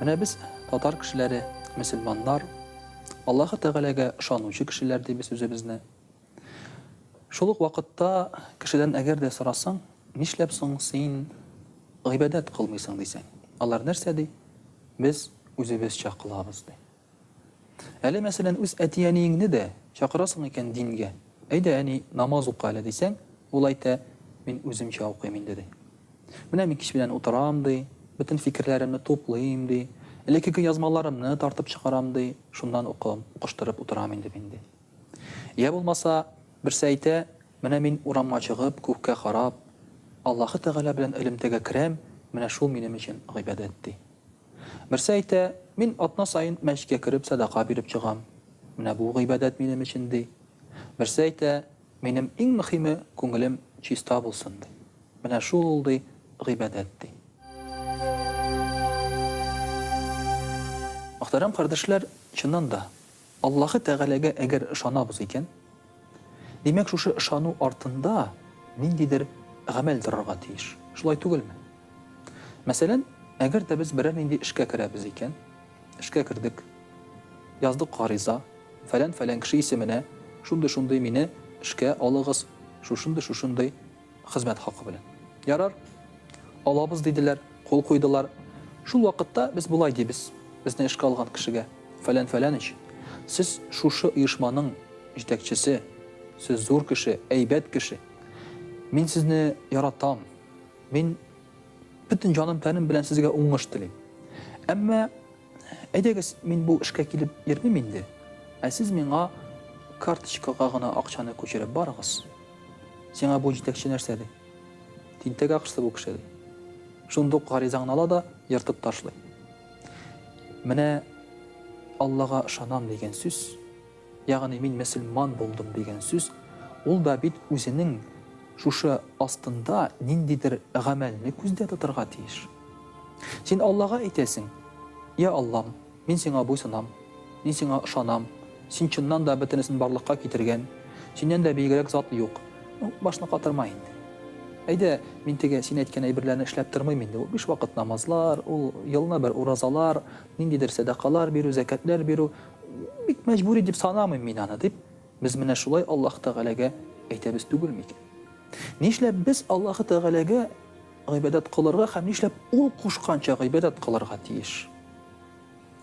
Менә без, татар кешеләре, мөселманнар, Аллаһы Тәгаләгә ышанучы кешеләр дибез үзебезне. Шул ук вакытта кешедән әгәр дә сорасаң, нишләп соң син гыйбадәт кылмыйсың дисәң, алар нәрсә ди? Без үзебезчә кылабыз, ди. Әле, мәсәлән, үз әти-әниеңне дә чакырасың икән дингә, Әйдә, әни, намаз укы әле, дисәң, ул әйтә, Мин үземчә укыйм инде, ди. Менә мин кич белән утырам, ди, бөтен фикерләремне туплыйм, ди, элеккеге язмаларымны тартып чыгарам, ди, шуннан укуым, укыштырып утырам инде мин, ди. Йә булмаса, берсе әйтә, Менә мин урамга чыгып, күккә карап, Аллаһы Тәгалә белән элемтәгә керәм, менә шул минем өчен гыйбадәт, ди. Берсе әйтә, Мин атна саен мәчкә кереп сәдака биреп чыгам. Менә бу гыйбадәт минем өчен, ди. Берсе әйтә, Минем иң мөхиме, күңелем чиста булсын, ди. Менә шул ул, ди, гыйбадәт, ди. Мөхтәрәм кардәшләр, чыннан да, Аллаһы Тәгаләгә әгәр ышанабыз икән, димәк, шушы ышану артында ниндидер гамәл торырга тиеш, шулай түгелме? Мәсәлән, әгәр дә без берәр нинди эшкә керәбез икән, эшкә кердек, яздык гариза, фәлән-фәлән кеше исеменә, шундый-шундый мине эшкә алыгыз, шушындый-шушындый, Хезмәт хакы белән. Ярар, алабыз, диделәр, кул куйдылар. Шул вакытта без болай дибез безне эшкә алган кешегә, Фәлән Фәләнич, сез шушы оешманың җитәкчесе, сез зур кеше, әйбәт кеше. Мин сезне яратам. Мин бөтен җаным-тәнем белән сезгә уңыш телим. Әмма. Әйдәгез, мин бу эшкә килеп йөрмим инде, ә сез миңа карточкага гына акчаны күчереп барыгыз. Сиңа бу җитәкче нәрсә, ди. Тинтәк акчасы бу кеше, ди. Шундук гаризаңны ала да ертып ташлый. Менә Аллага ышанам дигән сүз. Ягъни мин мөселман булдым дигән сүз, ул да бит үзенең шушы астында ниндидер гамәлне күздә тотырга тиеш. Син Аллага әйтәсең, Йә Аллам, мин сиңа буйсынам, мин сиңа ышанам, син чыннан да бөтенесен барлыкка китергән, синнән дә биегрәк зат юк. Ну, башны катырма инде. Әйдә, мин теге син әйткән әйберләрне эшләп тормыйм инде, ул биш вакыт намазлар, ул елны бер уразалар, ниндидер сәдакалар бирү, зәкәтләр бирү, Бик мәҗбүри дип санамыйм мин аны, дип, без менә шулай Аллаһ Тәгаләгә әйтәбез түгел микән? Нишләп без Аллаһ Тәгаләгә гыйбадәт кылырга һәм нишләп ул кушканча гыйбадәт кылырга тиеш?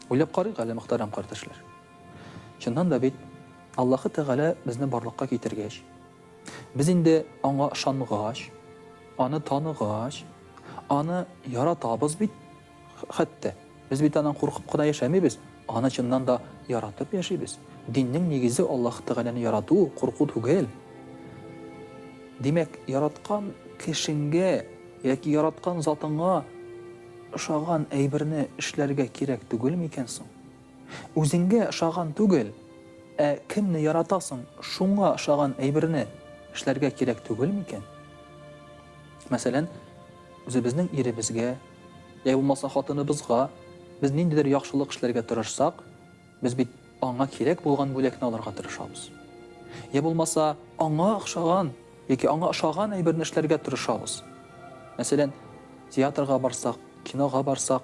Уйлап карыйк әле, мөхтәрәм кардәшләр. Чыннан да бит Аллаһ Тәгалә безне барлыкка китергәч, без инде аңа ышангач, аны таныгач, аны яратабыз бит, Хәтта, без бит аннан куркып кына яшәмибез, аны чыннан да яратып яшибез. Диннең нигезе Аллаһ Тәгаләне ярату, курку түгел. Димәк, яраткан кешеңгә яки яраткан затыңа ошаган әйберне эшләргә кирәк түгел микән соң? Үзеңгә ошаган түгел, ә кемне яратасың, шуңа ошаган әйберне эшләргә кирәк түгел микән? Мәсәлән, Үзебезнең иребезгә, йә булмаса хатыныбызга без ниндидер яхшылык эшләргә тырышсак, без бит аңа кирәк булган бүләкне алырга тырышабыз. Йә булмаса, аңа охшаган яки аңа ошаган әйберне эшләргә тырышабыз. Мәсәлән, театрга барсак, кинога барсак,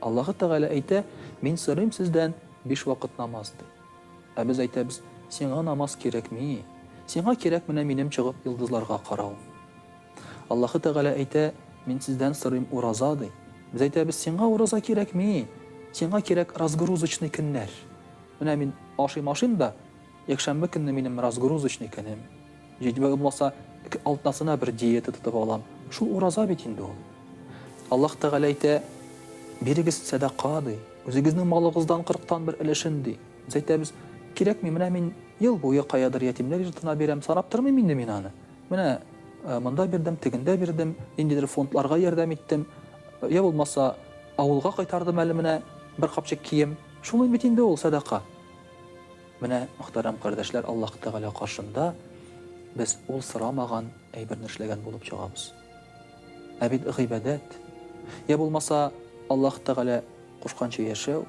Аллаһы Тәгалә әйтә, Мин сорыйм сездән биш вакыт намаз, ди. Ә без әйтәбез, Сиңа намаз кирәкми. Сиңа кирәк менә минем чыгып йолдызларга каравым. Аллаһы Тәгалә әйтә, Мин сездән сорыйм ураза, ди. Без әйтәбез, Сиңа ураза кирәкми. Сиңа кирәк разгрузочный көннәр. Менә мин ашыйм-ашыйм да, Якшәмбе көнне минем разгрузочный көнем. Җитмә булмаса, эке алтнасына бер диета тотып алам. Шул ураза бит инде ул. Аллаһ Тәгалә әйтә, Бирегез сәдака, ди. Үзегезнең малыгыздан кырыктан бер өлешен, ди. Без әйтәбез, Кирәкми, менә мин ел буе каядыр ятимнәр йортына бирәм, санап тормыйм инде мин аны. Менә монда бирдем, тегендә бирдем, ниндидер фондларга ярдәм иттем, йә булмаса, авылга кайтардым әле менә бер капчык кием. Шул бит инде ул сәдака. Менә, мөхтәрәм кардәшләр, Аллаһ Тәгалә каршында без Ул сорамаган әйберне эшләгән булып чыгабыз. Ә бит гыйбадәт, йә булмаса Аллаһ Тәгалә кушканча яшәү,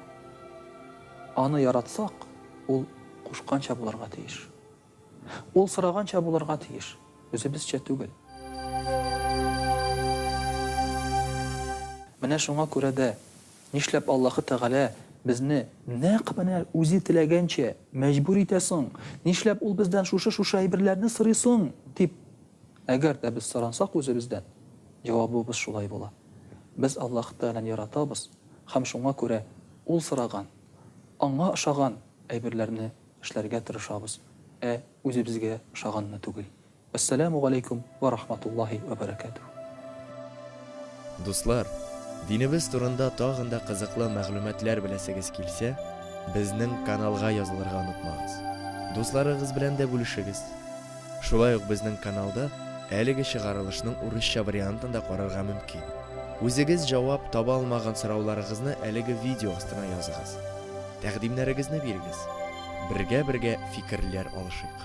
Аны яратсак, Ул кушканча булырга тиеш. Ул сораганча булырга тиеш, үзебезчә түгел. Менә шуңа күрә дә, нишләп Аллаһы Тәгалә безне нәкъ менә үзе теләгәнчә мәҗбүр итә соң? Нишләп Ул бездән шушы-шушы әйберләрне сорый соң? дип, әгәр дә без сорансак үзебездән, җавабыбыз шулай була. Без Аллаһы Тәгаләне яратабыз һәм шуңа күрә Ул сораган, Аңа ошаган әйберләрне Эшләргә тырышабыз, ә үзебезгә ошаганны түгел. Вәссәләмү галәйкүм вә рахматуллаһи вә бәрәкәтүһ. Дуслар, динебез турында тагын да кызыклы мәгълүматлар беләсегез килсә, безнең каналга язылырга онытмагыз. Дусларыгыз белән дә бүлешегез. Шулай ук безнең каналда әлеге чыгарылышның урысча вариантын да карарга мөмкин. Үзегез җавап таба алмаган сорауларыгызны әлеге видео астына языгыз. Тәкъдимнәрегезне бирегез. Бергә-бергә фикерләр алышыйк.